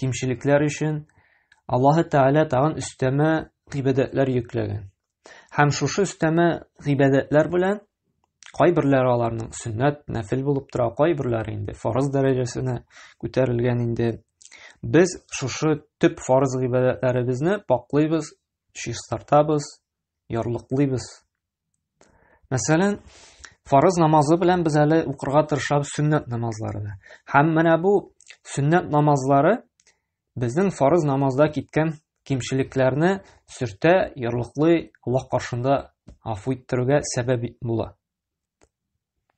кимчелекләр өчен Аллаһы Тәгалә тагын өстәмә гыйбадәтләр йөкләгән. Һәм шушы өстәмә гыйбадәтләр белән кайберләре аларның сөннәт, нәфил булып тора, кайберләре инде фарыз дәрәҗәсенә күтәрелгән инде. Без шушы төп фарыз гыйбадәтләребезне паклыйбыз, чистартабыз, ярлыклыйбыз Мәсәлән, фарыз намазы белән без әле укырга тырышабыз сөннәт намазларны. Һәм менә бу сөннәт намазлары безнең фарыз намазда киткән кимчелекләрне сөртә, ярлыклый, Аллаһ каршында афу иттерүгә сәбәп була.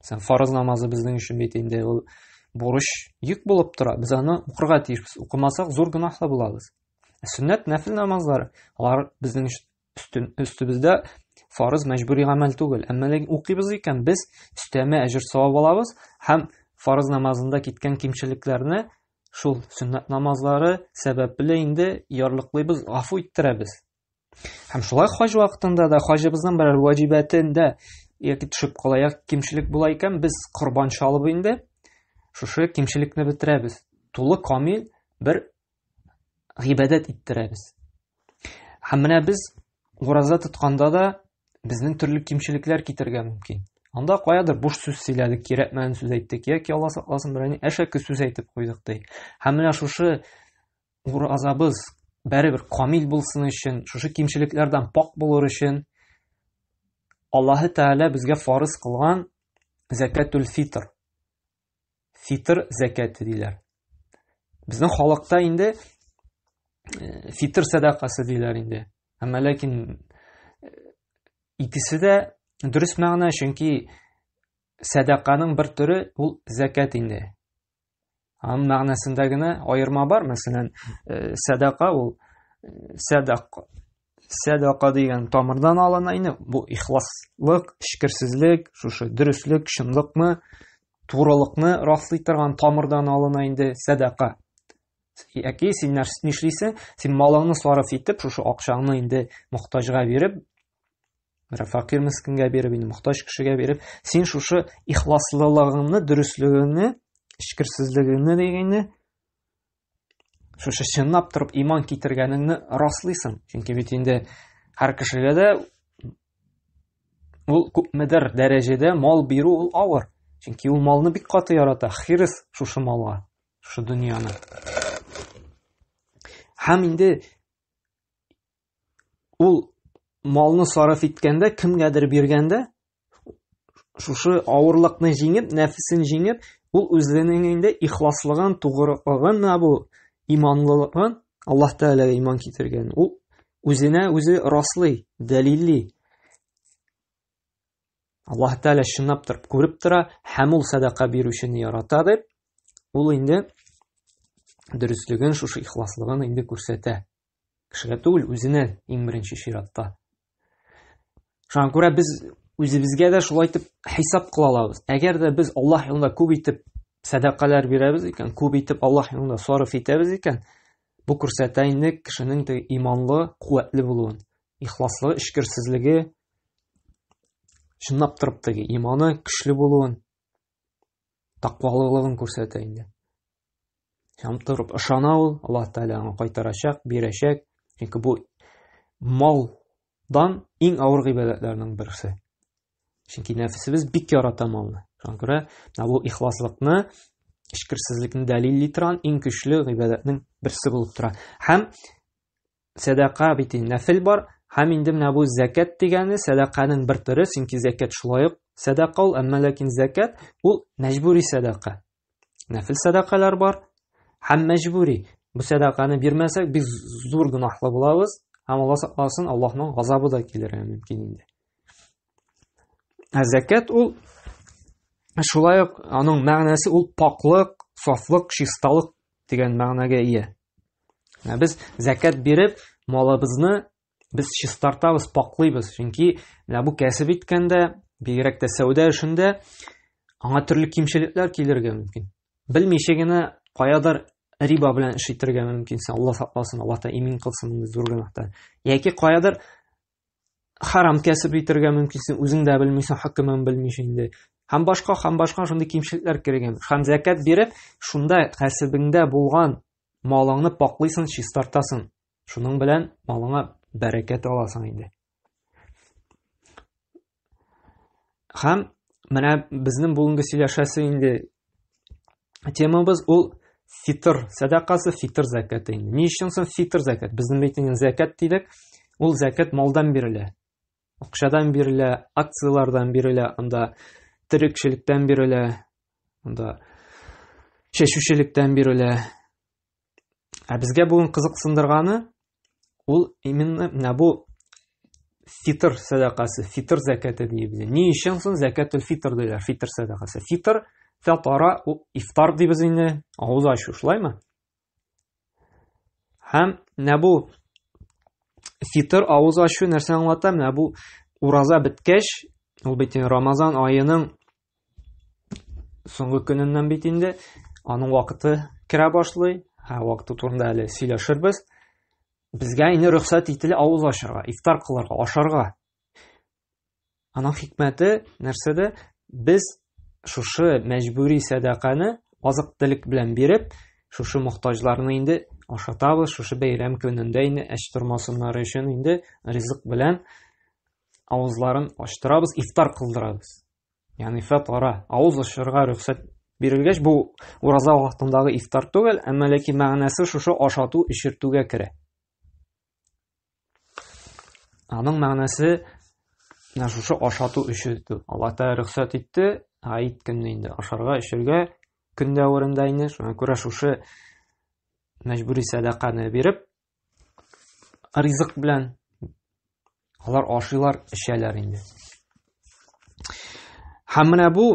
Сән фарыз намазы безнең өчен бит инде ул бурыч йөк булып тора. Без аны укырга тиешбез. Укымасак зур гөнаһлы булабыз. Сөннәт нәфил намазлары, алар безнең өчен Өстем, өстебездә фарыз мәҗбүри гамәл түгел. Әмма ләкин укыйбыз икән, без өстәмә әҗер савап алабыз һәм фарыз намазында киткән кимчелекләрне шул сөннәт намазлары сәбәпле инде ярлыклыйбыз, гафу иттерәбез. Һәм шулай хаҗ вакытында да хаҗыбызның берәр ваҗибәтендә яки төшеп кала кимчелек була икән, без корбан чалып инде шушы кимчелекне бетерәбез. Тулы камил бер гыйбадәт иттерәбез. Һәм менә без ураза тотканда да безнең төрле кимчелекләр китергә мөмкин. Анда каядыр буш сүз сөйләдек, кирәкмәгән сүз әйттек, яки Алла сакласын берәни әшәке сүз әйтеп куйдык ди. Һәм менә шушы уразабыз бәребер камил булсын өчен, шушы кимчелекләрдән пак булыр өчен Аллаһы Тәгалә безгә фарыз кылган закатул фитр фитр зәкәте диләр. Безнең халыкта инде э, фитр сәдакасы диләр инде. Әмма ләкин э, икесе дә дөрес мәгънә, чөнки сәдаканың бер төре ул зәкәт инде. Аның мәгънәсендә генә аерма бар, мәсәлән, э, сәдака ул сәдак Сәдака дигән тамырдан алына инде. Бу ихласлык, эчкерсезлек, шушы дөреслек, чынлыкны, турылыкны раслый торган тамырдан алына инде сәдака. Яки син нишлисең? Син малыңны сарыф итеп, шушы акчаңны инде мохтаҗга биреп, бер факир мискингә биреп, инде мохтаҗ кешегә биреп, син шушы ихласлылыгыңны, дөреслегеңне, эчкерсезлегеңне дигәнне шушы чынлап торып иман китергәнеңне раслыйсың чөнки бит инде һәр кешегә дә ул күпмедер дәрәҗәдә мал бирү ул авыр чөнки ул малны бик каты ярата хирыс шушы малга шушы дөньяны һәм инде ул малны сарыф иткәндә, кемгәдер биргәндә, шушы авырлыкны җиңеп, нәфесен җиңеп, ул үзенең инде ихласлыгын, тугрылыгын, бу иманлылыгын, Аллаһ Тәгаләгә иман китергән. Ул үзенә үзе раслый, дәлилли. Аллаһ Тәгалә чынлап торып күреп тора һәм ул садака бирүчене ярата дип, ул инде дөреслеген, шушы ихласлыгын инде күрсәтә. Кешегә түгел, үзенә иң беренче чиратта. Шуңа күрә без үзебезгә дә шулай итеп хисап кыла алабыз. Әгәр дә без Аллаһ юлында күп итеп сәдакалар бирәбез икән, күп итеп Аллаһ юлында сарыф итәбез икән, бу күрсәтә инде кешенең теге иманлы, куәтле булуын, ихласлы, эчкерсезлеге чынлап торып теге иманы көчле булуын, таквалылыгын күрсәтә инде. Һәм торып ышана ул, Аллаһ Тәгалә аңа кайтарачак, бирәчәк. Чөнки бу малдан иң авыр гыйбадәтләрнең берсе. Чөнки нәфсебез бик ярата малны. Шуңа күрә бу ихласлыкны, эчкерсезлекне дәлилли торган иң көчле гыйбадәтнең берсе булып тора. Һәм сәдака бит нәфил бар, һәм инде менә бу зәкәт дигәне сәдаканың бер төре, чөнки зәкәт шулай ук сәдака ул, әмма ләкин зәкәт ул мәҗбүри сәдака. нәфил сәдакалар бар һәм мәҗбүри. Бу сәдаканы бирмәсәк, без зур гөнаһлы булабыз һәм Алла сакласын, Аллаһның газабы да килергә мөмкин инде. Ә зәкят ул шулай ук аның мәгънәсе ул паклык, сафлык, чисталык дигән мәгънәгә ия. Ә без зәкят биреп, малыбызны Без чистартабыз, паклыйбыз, чөнки менә бу кәсеп иткәндә, бигрәк тә сәүдә эшендә аңа төрле кимчелекләр килергә мөмкин. Белмичә генә каядыр риба белән эш итәргә мөмкин. Алла сакласын, Алла та имин кылсын инде зур гөнаһтан. Яки каядыр харам кәсеп итәргә мөмкинсең, үзең дә белмисең, хөкемен белмичә инде. Һәм башка, һәм башка шундый кимчелекләр кергән. Һәм закат биреп, шунда кәсебеңдә булган малыңны паклыйсың, чистартасың. Шуның белән малыңа бәрәкәт аласың инде. Хәм менә безнең бүгенге сөйләшәсе инде темабыз ул фитр сәдакасы, фитр зәкәте инде. Ни өчен соң фитр зәкәт? Безнең бит инде зәкәт дидек. Ул зәкәт малдан бирелә. Акчадан бирелә, акцияләрдән бирелә, анда терекчелектән бирелә, анда чәчүчелектән бирелә. Ә безгә бүген кызыксындырганы ул именно менә бу фитр сәдакасы, фитр зәкәте дибез. Ни өчен соң зәкәтул фитр диләр, фитр сәдакасы? Фитр фәтара ифтар дибез инде, авыз ачу шулаймы? Һәм менә бу фитр авыз ачу нәрсә аңлата? Менә бу ураза беткәч, ул бит Рамазан аеның Соңгы көненнән бит инде аның вакыты керә башлый. Һә вакыты турында әле сөйләшербез. Безгә инде рөхсәт ителә авыз ачарга, ифтар кылырга, ашарга. Аның хикмәте нәрсәдә? Без шушы мәҗбүри сәдаканы азык телек белән биреп, шушы мохтаҗларны инде ашатабыз, шушы бәйрәм көнендә инде әч тормасыннары өчен инде ризык белән авызларын ачтырабыз, ифтар кылдырабыз. Ягъни фатара, авыз ачырга рөхсәт бирелгәч, бу ураза вакытындагы ифтар түгел, әмма ләкин мәгънәсе шушы ашату, эчертүгә керә. Аның мәгънәсе менә шушы ашату эчертү. Алла Тәгалә рөхсәт итте, гаит көнне инде ашарга, эчәргә көн дәверендә инде, шуңа күрә шушы мәҗбүри сәдаканы биреп, ризык белән алар ашыйлар, эчәләр инде. Һәм менә бу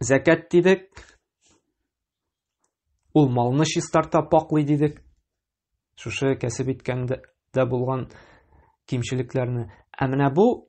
зәкәт дидек. Ул малны чистарта, паклый дидек. Шушы кәсеп иткәндә булган кимчелекләрне. Ә менә бу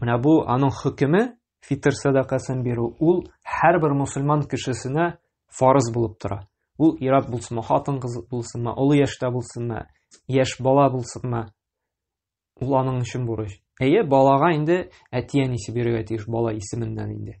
Менә бу аның хөкеме фитр сәдакасын бирү ул һәрбер мусульман кешесенә фарыз булып тора. Ул ират булсынмы, хатын кыз булсынмы, олы яшьтә булсынмы, яшь бала булсынмы, ул аның өчен бурыч. Әйе, балага инде әти-әнисе бирергә тиеш бала исеменнән инде.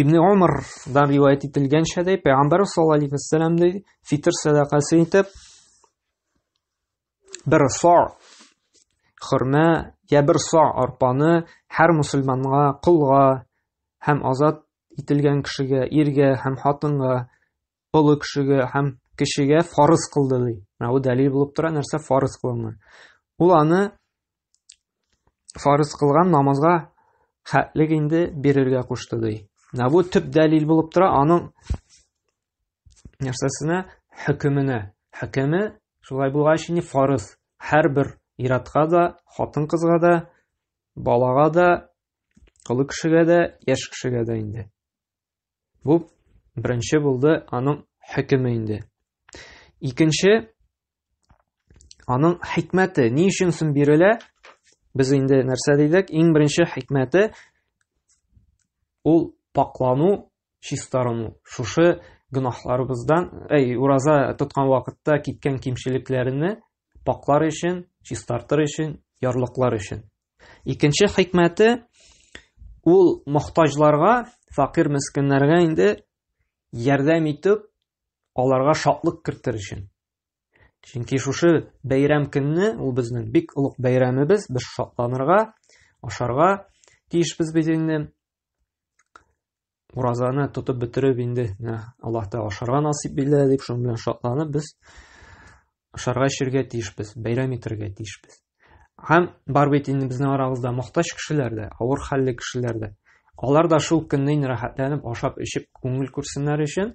Ибн Умардан риваять ителгәнчә дә, Пәйгамбәр саллаллаһу алейхи вәссәлам ди, фитр сәдакасы итеп бер са хөрмә я бер са арпаны һәр мусульманга, колга һәм азат ителгән кешегә, иргә һәм хатынга Олы кешегә һәм кешегә фарыз кылды ди. Менә бу дәлил булып тора, нәрсә фарыз кылынган. Ул аны фарыз кылган намазга хәтлек инде бирергә кушты ди. Менә бу төп дәлил булып тора аның нәрсәсенә, хөкеменә. Хөкеме шулай булгач инде фарыз. Һәрбер иратка да, хатын-кызга да, балага да, олы кешегә дә, яшь кешегә дә инде. Бу беренче булды аның хөкеме инде. Икенче аның хикмәте ни өчен соң бирелә? Без инде нәрсә дидек? Иң беренче хикмәте ул паклану, чистарыну. Шушы гөнаһларыбыздан, әй, ураза тоткан вакытта киткән кимчелекләрне паклар өчен, чистартыр өчен, ярлыклар өчен. Икенче хикмәте ул мохтаҗларга, факир мескеннәргә инде ярдәм итеп, аларга шатлык кертер өчен. Чөнки шушы бәйрәм көнне ул безнең бик олуг бәйрәмебез, без шатланырга, ашарга тиешбез бит инде. уразаны тотып бетереп инде менә аллаһ тәгалә ашарга насыйп итә дип шуның белән шатланып без ашарга эчәргә тиешбез бәйрәм итәргә тиешбез һәм бар бит инде безнең арабызда мохтаҗ кешеләр дә авыр хәлле кешеләр дә алар да шул көнне инде рәхәтләнеп ашап эчеп күңел күрсеннәр өчен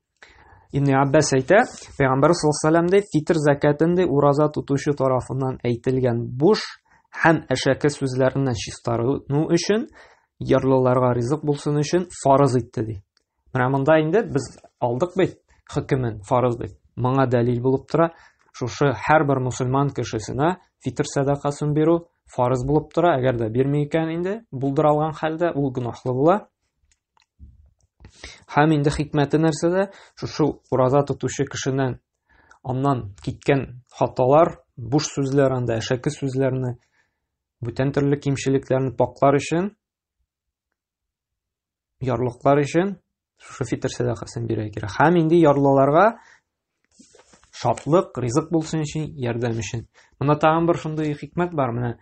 Ибн Аббас әйтә, Пәйгамбәр саллаллаху алейһи фитр закатынды ураза тотучы тарафыннан әйтелгән буш һәм әшәке сүзләреннән чистарыну өчен, ярлыларга ризык булсын өчен фарыз итте ди. Менә монда инде без алдык бит хөкемен фарыз дип. Моңа дәлил булып тора, шушы һәрбер мусульман кешесенә фитр сәдакасын бирү фарыз булып тора, әгәр дә бирми икән инде, булдыра алган хәлдә ул гөнаһлы була. Һәм инде хикмәте нәрсәдә? Шушы ураза тотучы кешенең аннан киткән хаталар, буш сүзләр анда, әшәке сүзләрне, бүтән төрле кимчелекләрне паклар өчен, ярлыклар өчен шушы фитр сәдакасын бирә кирәк. Һәм инде ярлыларга Шатлык, ризык булсын өчен, ярдәм өчен. Монда тагын бер шундый хикмәт бар, менә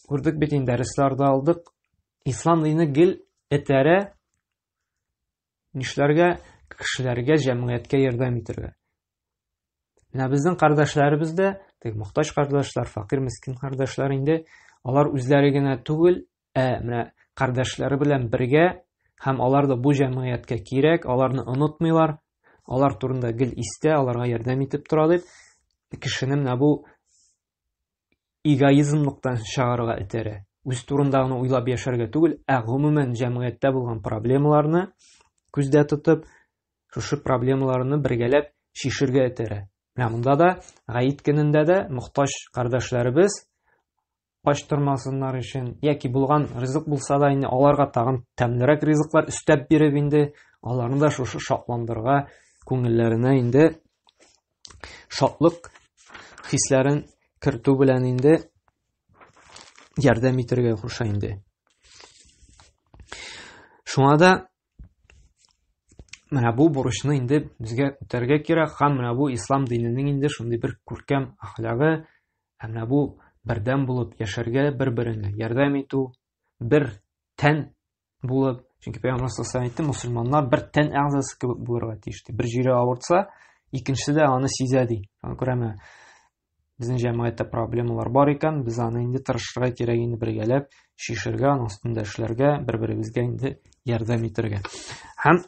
күрдек бит инде, дәресләрдә алдык. Ислам дине гел этәрә нишләргә, кешеләргә, җәмгыятькә ярдәм итәргә. Менә безнең кардәшләребез дә, теге мохтаҗ кардәшләр, факир, мискин кардәшләр инде, алар үзләре генә түгел, Ә менә кардәшләре белән бергә һәм алар да бу җәмгыятькә кирәк, аларны онытмыйлар, алар турында гел истә, аларга ярдәм итеп тора дип, кешене менә бу эгоизмлыктан чыгарырга этәрә. Үз турында гына уйлап яшәргә түгел, ә гомумән җәмгыятьтә булган проблемаларны күздә тотып, шушы проблемаларны бергәләп чишергә этәрә. Менә монда да гаит көнендә дә мохтаҗ кардәшләребез качтырмасыннар өчен, яки булган ризык булса да инде аларга тагын тәмлерәк ризыклар өстәп биреп инде аларны да шушы шатландырга күңелләренә инде шатлык хисләрен кертү белән инде ярдәм итәргә куша инде. Шуңа да Менә бу бурычны инде безгә үтәргә кирәк һәм менә бу ислам диненең инде шундый бер күркәм әхлагы һәм менә бу бердәм булып яшәргә бер-береңә ярдәм итү бер тән булып чөнки пәйгамбәр саллаллаху әйтте мусульманнар бер тән әгъзасы кебек булырга тиеш ди бер җире авыртса икенчесе дә аны сизә ди шуңа күрә менә Безнең җәмгыятьтә проблемалар бар икән, без аны инде тырышырга кирәк инде бергәләп шишергә, аның өстендә эшләргә, бер-беребезгә инде ярдәм итәргә. Һәм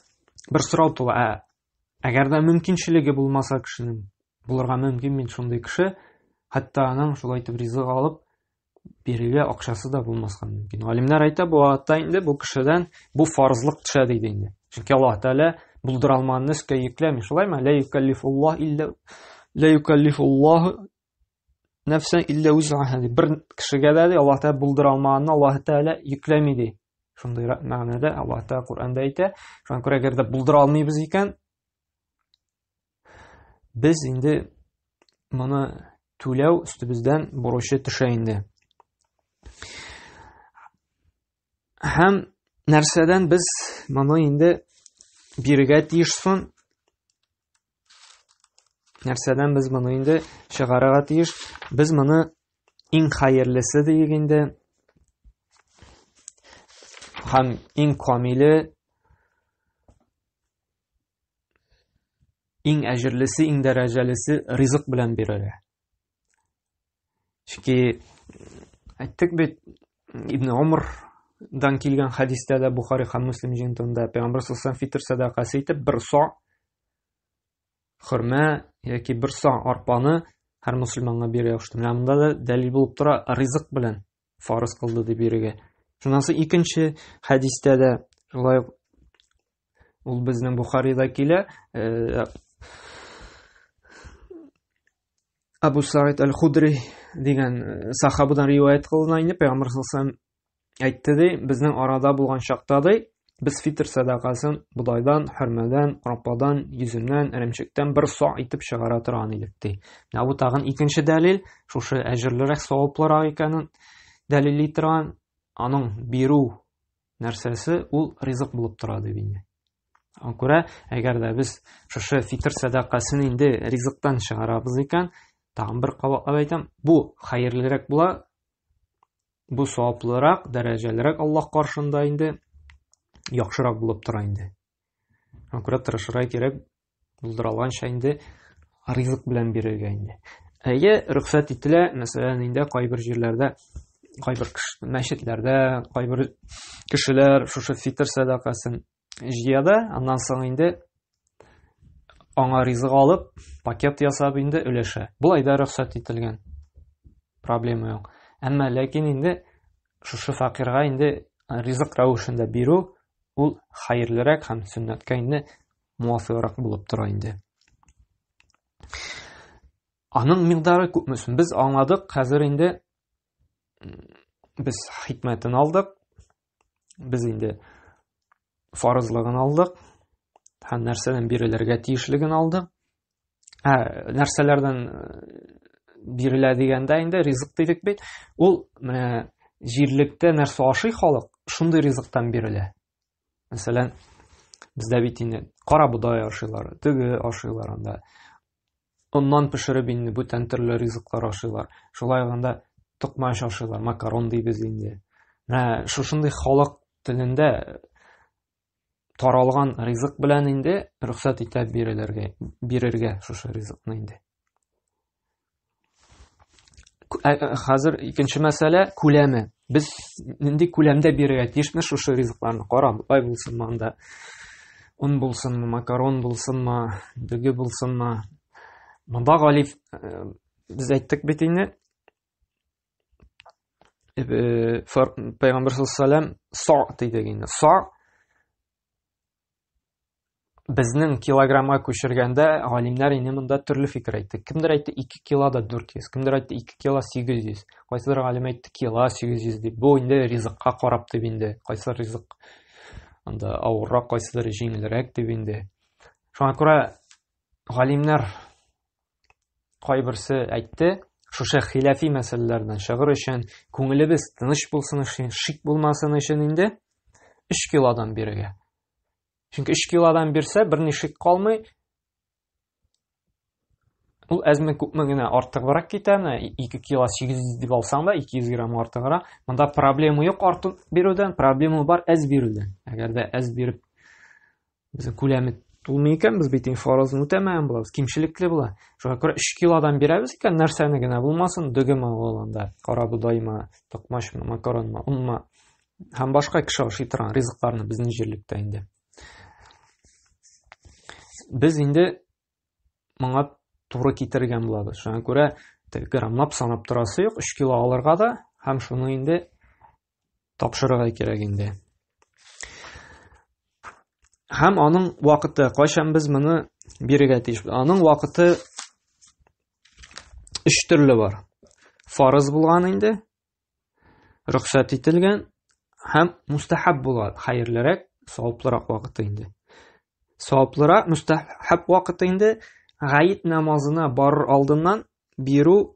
бер сорау тула, ә әгәр дә мөмкинчелеге булмаса кешенең, булырга мөмкин мин шундый кеше, хәтта аның шулай итеп ризык алып, бирергә акчасы да булмаска мөмкин. Галимнәр әйтә, бу аятта инде бу кешедән бу фарзлык төшә диде инде. Чөнки Аллаһ Тәгалә булдыра алмаганны өскә йөкләми, шулаймы? Ла юкаллифуллаһ илля ла юкаллифуллаһ нәфсән илля узаһа. Бер кешегә дә Аллаһ Тәгалә булдыра алмаганны Аллаһ Тәгалә йөкләми ди. Шундый мәгънәдә Аллаһ Тәгалә Коръәндә әйтә. Шуңа күрә әгәр дә булдыра алмыйбыз икән, Без инде моны түләү өстебездән бурычы төшә инде. Һәм нәрсәдән без моны инде бирегә тиеш сон? Нәрсәдән без моны инде чыгарырга тиеш? Без моны иң хәерлесе диек инде. Һәм иң камиле Иң әҗерлесе, иң дәрәҗәлесе ризык белән бирелә. Чөнки әйттек бит, Ибн Умар дан килгән хәдистә дә Бухари һәм Муслим җыентында Пәйгамбер саллаллаху фитр сәдакасы итеп бер со хөрмә яки бер со арпаны һәр мусульманга бирә ошты. Менә монда да дәлил булып тора ризык белән фарыз кылды дип бирегә. Шуннан соң икенче хәдистә дә шулай Ул безнең Бухарида килә. Э, Абу Саид Аль-Худри дигән э, сахабыдан риваят кылына инде, Пәйгамбер саллаллаху әйтте ди, безнең арада булган чакта ди, без фитр сәдакасын бодайдан, хөрмәдән, рападан, йөземнән, эремчектән бер са итеп чыгара торган идек ди. Менә бу тагын икенче дәлил, шушы әҗерлерәк, саваплырак икәнен дәлилли торган, аның бирү нәрсәсе ул ризык булып тора дип инде аңа күрә әгәр дә без шушы фитр сәдакасын инде ризыктан чыгарабыз икән тагын бер кабатлап әйтәм бу хәерлерәк була бу саваплырак дәрәҗәлерәк аллаһ каршында инде яхшырак булып тора инде аңа күрә тырышырга кирәк булдыралганча инде ризык белән бирергә инде әйе рөхсәт ителә мәсәлән инде кайбер җирләрдә кайбер мәчетләрдә кайбер кешеләр шушы фитр сәдакасын җыя да аннан соң инде аңа ризык алып пакет ясап инде өләшә болай да рөхсәт ителгән проблема юк әмма ләкин инде шушы факирга инде ризык рәвешендә бирү ул хәерлерәк һәм сөннәткә инде муафыйграк булып тора инде. Аның мигдары күпме соң? Без аңладык, хәзер инде без хикмәтен алдык. Без инде фарызлыгын алдык. Һәм нәрсәдән бирелергә тиешлеген алдык. Ә нәрсәләрдән э, бирелә дигәндә инде ризык дидек бит. Ул менә җирлектә нәрсә ашый халык, шундый ризыктан бирелә. мәсәлән бездә бит инде кара бодай ашыйлар теге ашыйлар анда оннан пешереп инде бүтән төрле ризыклар ашыйлар шулай гында токмач ашыйлар макарон дибез инде менә шушындый халык телендә таралган ризык белән инде рөхсәт итә бирелергә бирергә шушы ризыкны инде хәзер икенче мәсьәлә күләме без нинди күләмдә бирергә тиешме шушы ризыкларны кара бай булсынмы анда он булсынмы макарон булсынмы дөге булсынмы монда гали э, без әйттек бит инде э, пайгамбар саллаллаху алейхи са дидек инде са безнең килограммга күчергәндә галимнәр инде монда төрле фикер әйтте. Кемдер әйтте 2 кило да 400, кемдер әйтте 2 кило 800. Кайсыдыр галим әйтте кило 800 дип. Бу инде ризыкка карап дип инде. Кайсы ризык анда авыррак, кайсыдыр җиңелрәк дип инде. Шуңа күрә галимнәр Кайберсе әйтте, шушы хиләфи мәсьәләләрдән чыгыр өчен, күңелебез тыныч булсын өчен, шик булмасын өчен инде 3 килодан бирергә. Чөнки 3 килодан бирсә, берни шик калмый. Ул әзме күпме генә артыграк китәме, 2 кило 800 дип алсаң да 200 грамм артыграк. Монда проблема юк артык бирүдән, проблема бар әз бирүдән. Әгәр дә әз биреп Безнең күләме тулмый икән, без бит фарызны үтәмәгән булабыз, кимчелекле була. Шуңа күрә 3 килодан бирәбез икән, нәрсәне генә булмасын, дөгеме алганда, карабудаймы, токмачмы, макаронмы, онмы һәм башка кеше ашый торган ризыкларны безнең җирлектә инде. Без инде моңа туры китергән булабыз. Шуңа күрә граммлап санап торасы юк, 3 кило алырга да һәм шуны инде тапшырырга кирәк инде. Һәм аның вакыты, кайчан без моны бирергә тиеш? Аның вакыты өч төрле бар. Фарыз булган инде, рөхсәт ителгән һәм мустахаб булган, хәерлерәк, саваплырак вакыты инде. Саваплырак, мустахаб вакыты инде гаит намазына барыр алдыннан бирү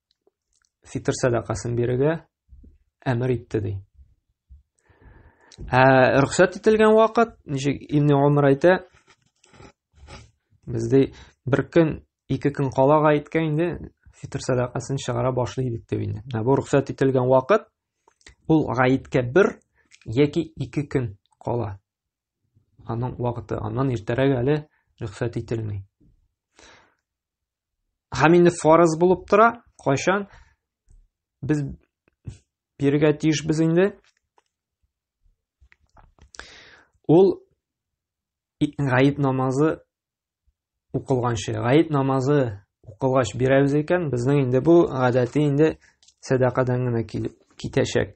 фитр сәдакасын бирергә әмер итте ди. Ә рөхсәт ителгән вакыт, ничек Ибн Умар әйтә, бездә бер көн, ике көн калага иткән инде фитр сәдакасын чыгара башлый идек дип инде. Ә бу рөхсәт ителгән вакыт ул гаеткә бер яки ике көн кала. Аның вакыты аннан иртәрәк әле рөхсәт ителми. Һәм инде фарыз булып тора, кайчан без бирергә тиешбез инде. Ул гаит намазы укылганчы, гаит намазы укылгач бирәбез икән, безнең инде бу гадәти инде сәдакадан гына китәчәк.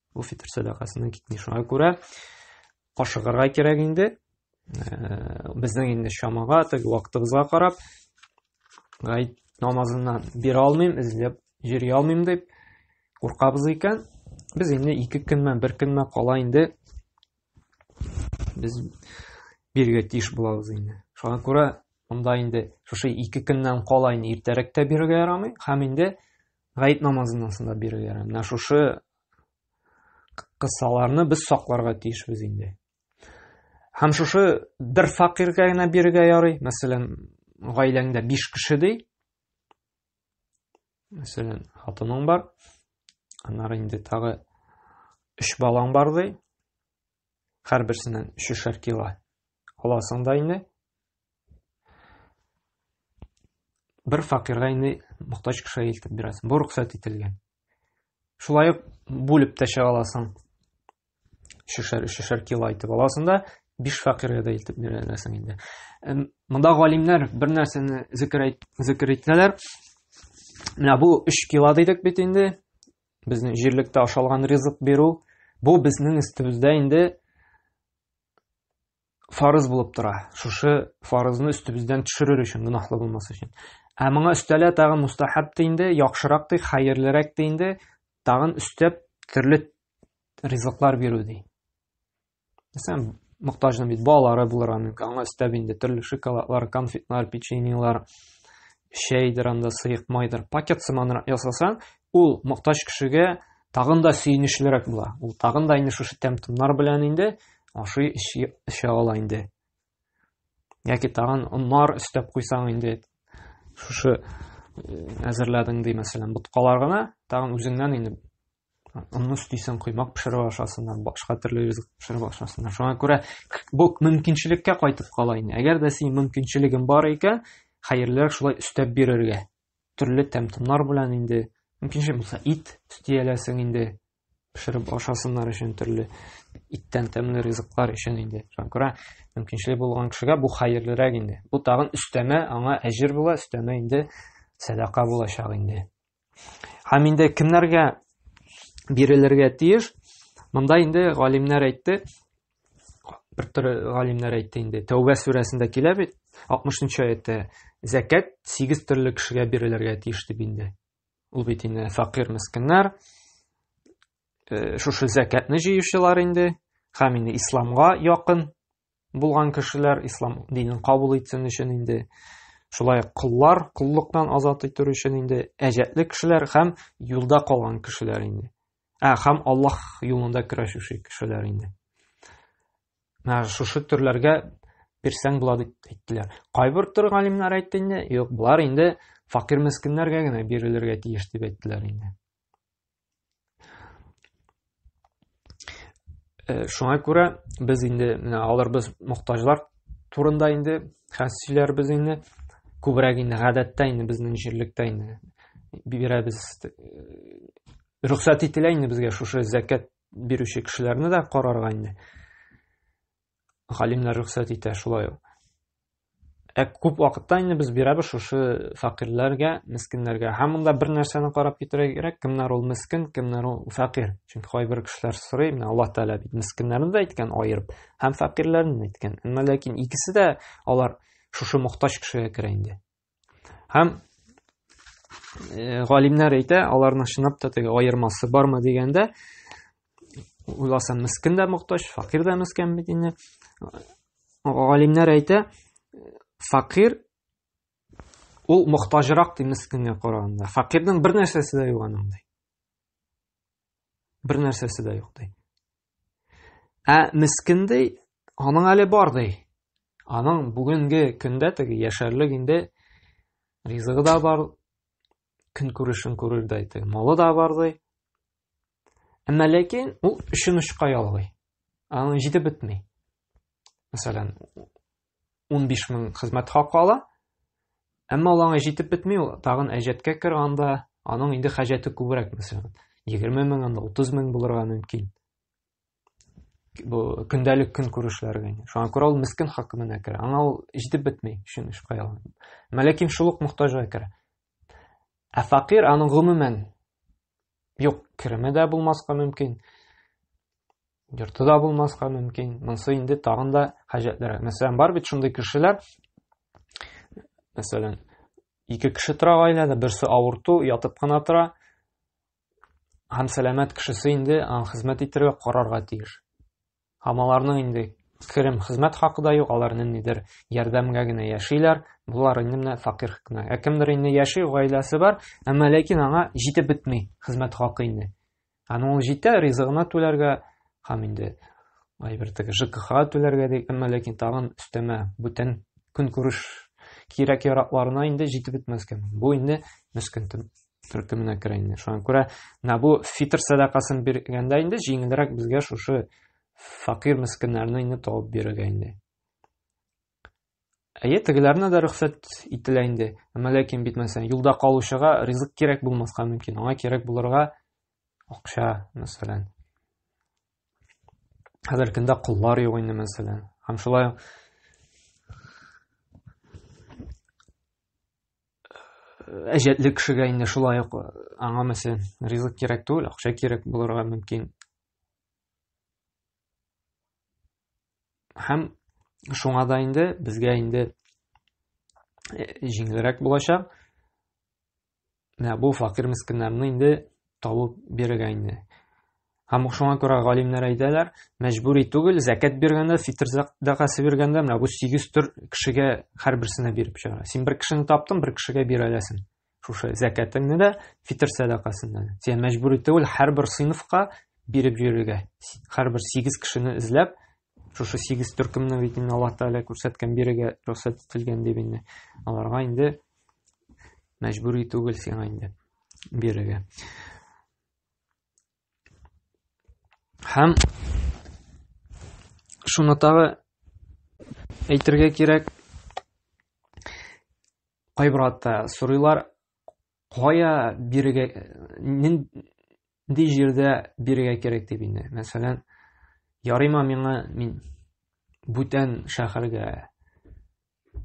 Бу фитр сәдакасының китми. Шуңа күрә ашыгырга кирәк инде. Э, безнең инде чамага, теге вакытыбызга карап, гайд намазыннан бир алмыйм, эзләп җири алмыйм дип куркабыз икән, без инде ике көнмә, бер көнмә кала инде без биргә тиеш булабыз инде. Шуңа күрә монда инде шушы ике көннән кала инде иртәрәк тә бирергә ярамый, һәм инде Гает намазыннан соң да бирергә ярамый. Менә шушы кыссаларны без сакларга тиешбез инде. Һәм шушы бер факиргә генә бирергә ярый. Мәсәлән, гаиләңдә 5 кеше ди. Мәсәлән, хатының бар. Аннары инде тагы 3 балаң бар ди. Һәрберсеннән өчешәр кило аласың да инде. Бер факирга инде мохтаҗ кешегә илтеп бирәсең. Бу рөхсәт ителгән. Шулай ук бүлеп тә чыга аласың. Өчешәр, өчешәр кило итеп аласың да, биш факиргә дә илтеп бирәсең инде. Монда галимнәр бер нәрсәне зикер итәләр. Менә бу 3 кило дидек бит инде. Безнең җирлектә ашалган ризык бирү, бу безнең өстебездә инде фарыз булып тора. Шушы фарызны өстебездән төшерер өчен, гөнаһлы булмас өчен. Ә моңа өстәлә тагын мустахаб та инде, яхшырак та, хәерлерәк тә инде, тагын өстәп төрле ризыклар бирү ди. Әсәм мохтажны бит балалары булырга мөмкин. Аңа өстәп инде төрле шоколадлар, конфетлар, печеньелар, чәйдер анда сыек майдыр. Пакет сыманрак ясаса, ул мохтаж кешегә тагын да сөенечлерәк була. Ул тагын да инде шушы тәм-томнар белән инде ашый эчә ала инде. Яки тагын оннар өстәп куйсаң инде шушы әзерләдең ди, мәсәлән, боткалар гына, тагын үзеңнән инде Аны өстисең, коймак пешереп ашасың, башка төрле ризык пешереп ашасың. Шуңа күрә бу мөмкинчелеккә кайтып кала инде. Әгәр дә синең мөмкинчелегең бар икән, хәерлерәк шулай өстәп бирергә. Төрле тәм-томнар белән инде мөмкинчелек булса ит өстияләсең инде пешереп ашасыннар өчен төрле иттән тәмле ризыклар өчен инде. Шуңа күрә мөмкинчелек булган кешегә бу хәерлерәк инде. Бу тагын өстәмә, аңа әҗер була, өстәмә инде сәдака булачак инде. Һәм инде кемнәргә бирелергә тиеш? Монда инде галимнәр әйтте, бер төрле галимнәр әйтте инде. Тәүбә сүрәсендә килә бит, 60-нчы аятта зәкәт 8 төрле кешегә бирелергә тиеш дип инде. Ул бит инде факир мескеннәр, э, шушы зәкәтне җыючылар инде, һәм инде исламга якын булган кешеләр ислам динен кабул итсен өчен инде шулай ук коллар коллыктан азат итү өчен инде әҗәтле кешеләр һәм юлда калган кешеләр инде ә һәм аллаһ юлында көрәшүче кешеләр инде менә шушы төрләргә бирсәң була дип әйттеләр кайбер төр галимнәр әйтте инде юк болар инде факир мескеннәргә генә бирелергә тиеш дип әйттеләр инде Э, шуңа күрә без инде менә алар без мохтаҗлар турында инде хәс сөйләрбез инде күбрәк инде гадәттә инде безнең җирлектә инде бирәбез э, рөхсәт ителә инде безгә шушы зәкәт бирүче кешеләрне дә карарга инде галимнәр рөхсәт итә шулай ук. Ә күп вакытта инде без бирәбез шушы фәкыйрьләргә, мескеннәргә. Һәм монда бер нәрсәне карап китәргә кирәк, кемнәр ул мескен, кемнәр ул фәкыйрь. Чөнки кайбер кешеләр сорый, менә Аллаһ Тәгалә бит мескеннәрне дә әйткән аерып, һәм фәкыйрьләрне дә әйткән. Әмма ләкин икесе дә алар шушы мохтаҗ кешегә керә инде. Һәм э, галимнәр әйтә, аларның чынлап та теге аермасы бармы дигәндә, уйласам, мискин дә мохтаҗ, факир дә мискин бит инде. Галимнәр әйтә, факир ул мохтаҗрак ди мискингә караганда. Факирның бер нәрсәсе дә юк аның ди. Бер нәрсәсе дә юк ди. Ә мискен ди, аның әле бар ди. Аның бүгенге көндә теге яшәрлек инде ризыгы да бар, көн күрешен күрер дә ди. Малы да бар ди. Әмма ләкин ул өчен очка ялгый. Аның җитеп бетми. Мәсәлән, унбиш мең хезмәт хакы ала. Әмма ул аңа җитеп бетми, ул тагын әҗәткә кер, анда аның инде хаҗәте күбрәк, мәсәлән, 20 мең, анда 30 мең булырга мөмкин. Бу көндәлек көн күрешләргә инде. Шуңа күрә ул мискен хакимына керә. Аңа ул җитеп бетми, шуны эш кая ала. Мәләкин шул ук мохтаҗга керә. Ә факир аның гомумән юк кереме дә булмаска мөмкин. йорты да булмаска мөмкин монысы инде тагын да хаҗәтлерәк мәсәлән бар бит шундый кешеләр мәсәлән ике кеше тора гаиләдә берсе авырту ятып кына тора һәм сәламәт кешесе инде хезмәт итәргә карарга тиеш һәм аларның инде керем хезмәт хакы да юк алар ниндидер ярдәмгә генә яшиләр болар инде менә факир кенә ә кемдер инде яши гаиләсе бар әмма ләкин аңа җитеп бетми хезмәт хакы инде Аны ул җитә, ризыгына түләргә һәм инде әйбер теге ЖКХ түләргә ди, әмма ләкин тагын өстәмә бүтән көнкүреш кирәк яракларына инде җитеп бетмәскә. Бу инде мескен төркеменә керә инде. Шуңа күрә менә бу фитр сәдакасын биргәндә инде җиңелрәк безгә шушы факир мескеннәрне инде табып бирергә инде. Әйе, тегеләрне дә рөхсәт ителә инде. Әмма ләкин бит мәсәлән, юлда калучыга ризык кирәк булмаска мөмкин. Аңа кирәк булырга акча, мәсәлән. Хәзер көндә куллар юк инде, мәсәлән. Һәм шулай әҗәтле кешегә инде шулай ук аңа мәсәлән ризык кирәк түгел, акча кирәк булырга мөмкин. Һәм шуңа да инде безгә инде э, җиңелрәк булачак. Менә бу факир мескеннәрне инде табып бирергә инде. Һәм шуңа күрә галимнәр әйтәләр, мәҗбүри түгел, зәкәт биргәндә, фитр закәсе биргәндә, менә бу 8 төр кешегә һәрберсенә биреп чыгара. Син бер кешене таптың, бер кешегә бирәләсең. шушы зәкәтеңне дә фитр сәдакасыннан сиңа мәҗбүр итүел һәрбер сыйныфка биреп йөрергә һәрбер сигез кешене эзләп шушы сигез төркемне бит инде аллаһ тәгалә күрсәткән бирегә рөхсәт ителгән дип инде аларга инде мәҗбүр итүгел сиңа инде бирергә Һәм шуны тагы әйтергә кирәк, кайбер атта сорыйлар, кая бирегә, нинди җирдә бирегә кирәк дип инде. Мәсәлән, ярыйма миңа мин бүтән шәһәргә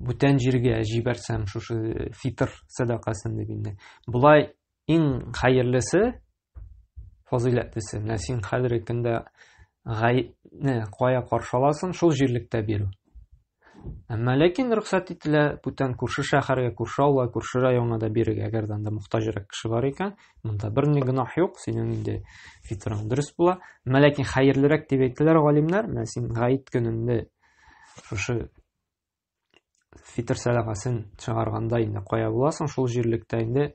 бүтән җиргә җибәрсәм шушы фитр сәдакасын дип инде болай иң хәерлесе фазыйләтлесе менә син хәзерге көндә гаепне кая каршы аласың шул җирлектә бирү әмма ләкин рөхсәт ителә бүтән күрше шәһәргә күрше авылга күрше районга да бирергә әгәр дә анда мохтаҗрак кеше бар икән монда бер ни гөнаһ юк синең инде фитрың дөрес була әмма ләкин хәерлерәк дип әйтәләр галимнәр менә син гаеп көнендә шушы фитр сәләмәсен чыгарганда инде кая буласың шул җирлектә инде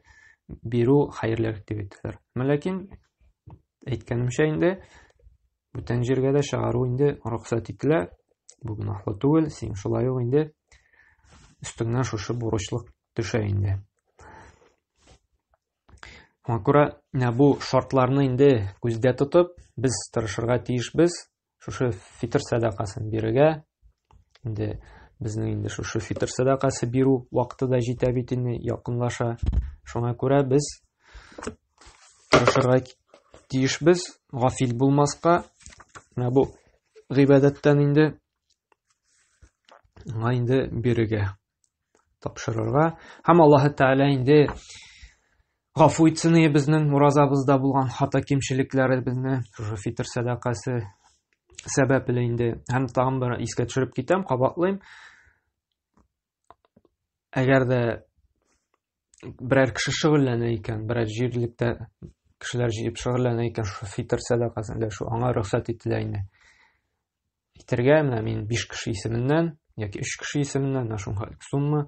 бирү хәерлерәк дип әйтәләр ләкин әйткәнемчә инде бүтән җиргә дә чыгару инде рөхсәт ителә бу гөнаһлы түгел син шулай ук инде өстеңнән шушы бурычлык төшә инде Шуңа күрә менә бу шартларны инде күздә тотып, без тырышырга тиешбез, Шушы фитр сәдакасын бирергә. Инде безнең инде шушы фитр сәдакасы бирү вакыты да җитә бит инде, якынлаша. Шуңа күрә без тырышырга тиешбез, гафил булмаска. Менә бу гыйбадәттән инде аңа инде бирергә. тапшырырга. Һәм Аллаһ Тәгалә инде гафу итсен безнең уразабызда булган хата кимчелекләребезне, шушы фитр сәдакасы сәбәпле инде. Һәм тагын бер искә төшереп китәм, кабатлыйм. Әгәр дә берәр кеше шөгыльләнә икән, берәр җирлектә кешеләр җыеп шөгыльләнә икән, шушы фитр сәдакасын өләшү аңа рөхсәт ителә инде. Итергә менә мин 5 кеше исеменнән яки 3 кеше исеменнән менә шуңа сумма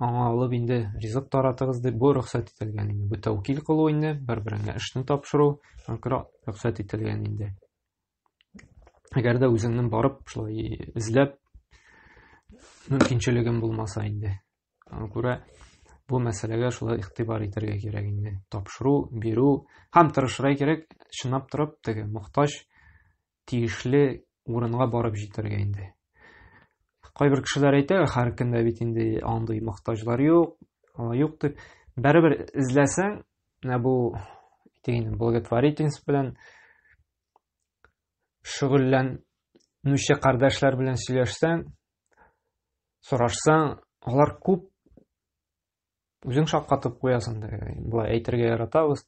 аңа алып инде ризык таратыгыз дип бу рөхсәт ителгән инде. Бу тәүкил кылу инде, бер-береңә эшне тапшыру рөхсәт ителгән инде. Әгәр дә үзеңнең барып шулай эзләп мөмкинчелегең булмаса инде. Аңа күрә бу мәсьәләгә шулай игътибар итәргә кирәк инде. Тапшыру, бирү һәм тырышырга кирәк, чынлап торып, теге мохтаҗ тиешле урынга барып җитәргә инде. Кайбер кешеләр әйтә, һәр кемдә бит инде андый мохтаҗлар юк, алай юк дип. Бәрібір эзләсәң, менә бу тегенең благотворительность белән шөгыльләнүче кардәшләр белән сөйләшсәң, сорашсаң, алар күп үзең шаккатып куясың да, болай әйтергә яратабыз.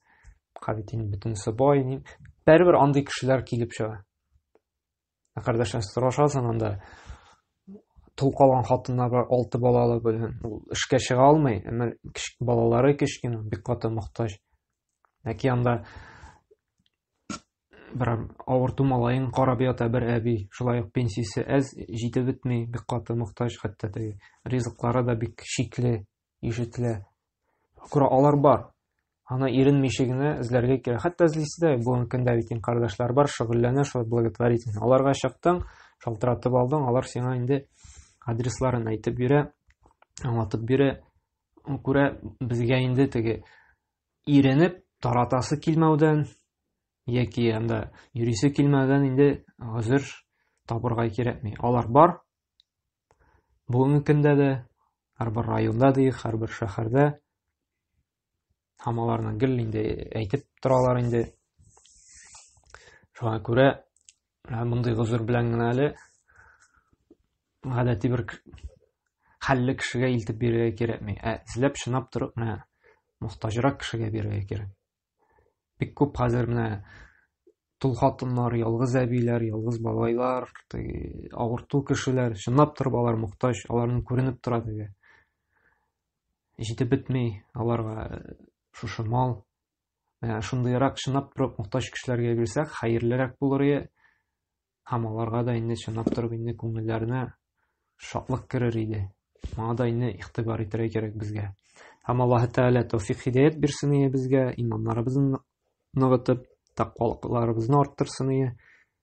Кабитин бөтенесе бай, ни. Бәрбер андый кешеләр килеп чыга. Ә кардәшләр сорашасың анда тол калган хатыннар бар, алты балалы белән. Ул эшкә чыга алмый, әмма балалары кечкенә, бик каты мохтаҗ. Яки анда Бер авырту малаен карап ята бер әби. Шулай ук пенсиясе әз, җитеп бетми, бик каты мохтаҗ хәтта теге. Ризыклары да бик шикле ишетелә. Күрә алар бар. Аны иренмичә генә эзләргә кирәк. Хәтта эзлисе дә бүгенге көндә бит инде кардәшләр бар, шөгыльләнә шул благотворитель. Аларга чыктың, шалтыратып алдың, алар сиңа инде адресларын әйтеп бирә, аңлатып бирә. Күрә безгә инде теге Иренеп таратасы килмәүдән яки анда йөрисе килмәүдән инде гозер табырга кирәкми. Алар бар. Бүгенге көндә дә һәрбер районда дик, һәрбер шәһәрдә һәм аларны гел инде әйтеп торалар инде. Шуңа күрә Ә мондый гозер белән генә әле гадәти бер хәлле кешегә илтеп бирергә кирәкми. Ә эзләп чынап торып менә мохтаҗрак кешегә бирергә кирәк. Бик күп хәзер менә тол хатыннар, ялгыз әбиләр, ялгыз бабайлар, авырту кешеләр, чынлап торып алар мохтаҗ, аларның күренеп тора теге. Җитеп бетми аларга э, шушы мал, Ә, шундыйрак чынлап торып мохтаҗ кешеләргә бирсәк, хәерлерәк булыр иде. Һәм аларга да инде чынлап торып инде күңелләренә шатлык керер иде. Моңа да инде игътибар итәргә кирәк безгә. Һәм Аллаһ Тәгалә тәүфик хидәят бирсен иде безгә, иманнарыбызны ныгытып, тәкъвалыкларыбызны арттырсын иде.